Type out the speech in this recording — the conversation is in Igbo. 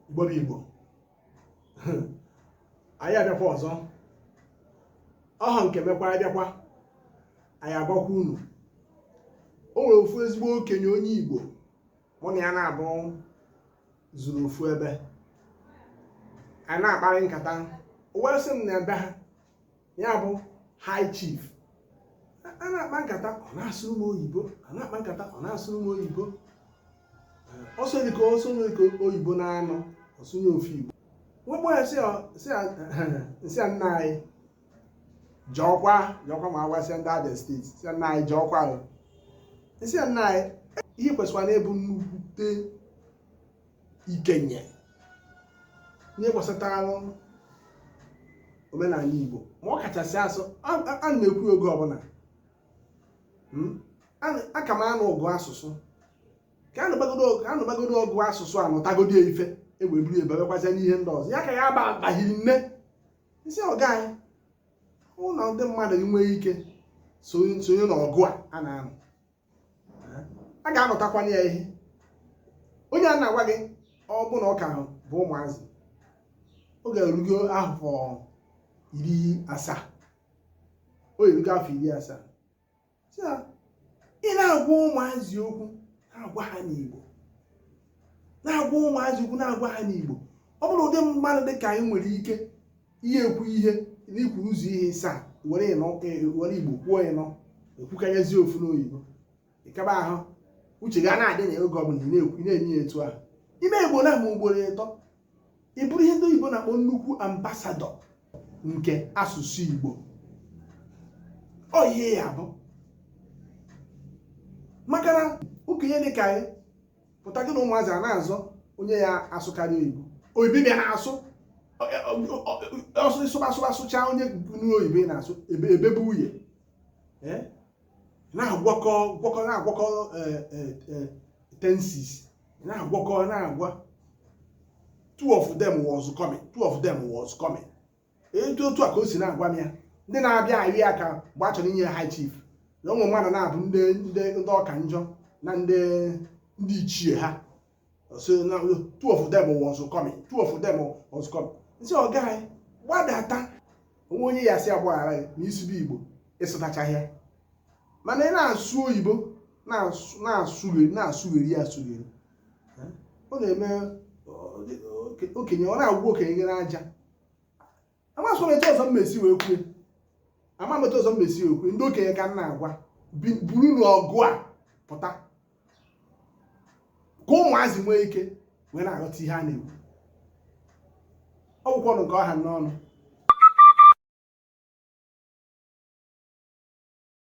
igbo bụ igbo anyị abịakwa ọzọ ọha nke mekwa abịakwa anyị agwakwa unu o nwere ofu ezigbo okenye onye igbo mụ na ya naabọ zuru ofu ebe anyị na-akparị nkata o wee sị m na ebe ha ya bụ high chief a na-akpa nkata ọ na-asụrụ m oyibo a na-akpa nkata ọ na-asụrụ m oyibo ọ sụọ dịka ọ sụọ dịka oyibo naanọ ọ sụnye ofu igbo m wee kpọọ ya sị ya nna anyị jọọkwa jọọkwa ma agwasịa ndị abia steeti sị ya nna anyị jọọkwa sị ya nna anyị ihe kwesịkwara na-ebu nnukwute ikenye ihe gbasatara omenala Igbo ma ọ kachasị as a na-ekwu oge ọbụla hmm? a ka na-anụ ọgụ asụsụ ka a nụbagodo ọgụ asụsụ a nụtagodo ife egbe buru ebebekwazia n'ihe ndị ọzọ ya ka ya abaghị nne m sị ọga anyị unu ndị mmadụ nwee ike sonye n'ọgụ a a na-anụ a ga-anụtakwanụ ya ihe onye a na-agwa gị ọ bụ na ọ ka bụ ụmụazị ọ ga-erugo afọ iri asaa o erugo afọ iri asaa ị na-agwa ụmụazị okwu na-agwa ha n'Igbo na-agwa ụmụazị okwu na-agwa ha n'Igbo ọ bụrụ ụdị mmadụ dị ka anyị nwere ike ị ya-ekwu ihe na i kwuru ụzọ ihe ịsaa were ịnọ e, were igbo kwuo i wee kwukanyezie ofu n'oyibo ịkaba ahụ uche gị na-adị na oge ọbụla ị na-enye ya etu ahụ ime igbo na ama ugboro ịtọ ị bụrụ ihe ndị oyibo na-akpọ nnukwu ambasadọ nke asụsụ igbo ọ ihe ya bụ maka na okenye dị ka anyị pụta gị na ụmụazị a na-azọ onye ya-asụkarị oyibo oyibo bịa na-asụ ọ sụ ị sụba sụba sụcha onye nwe oyibo ị na-asụ ebe bụ nwunye na-agwakọ gwakọ na-agwakọ e, e, e, tenses na-agwakọ na-agwa two of them was coming two of them was coming etu otu a ka o si na-agwa m ya ndị na-abịa ahụ ya ka mgbe a chọrọ inye high chief na ụmụ mmadụ na-abụ ndị ndị ndị ọka njọ na ndị ndị ichie ha sị na two of them was coming two of them was coming m sị ọga anyị gbadata o nwe onye ya-asị a gbaghara gị na ị sụbe igbo ị sụtachaghị ya mana ị na-asụ oyibo na-asụ- na-asụgheri na-asụgheri ya asụgheri ọ na-eme ọ- oke- okenye ọ na-agwụ okenye gị n'aja amazị etu ọzọ m mesi wee kwue ama m etu ọzọ m mesi wee kwue ndị okenye ka m na-agwa buru n'ọgụ a pụta ka ụmụazị nwee ike wee na-aghọta ihe a na-ekwu ọ bụkwa ọnụ nke ọha n'ọnụ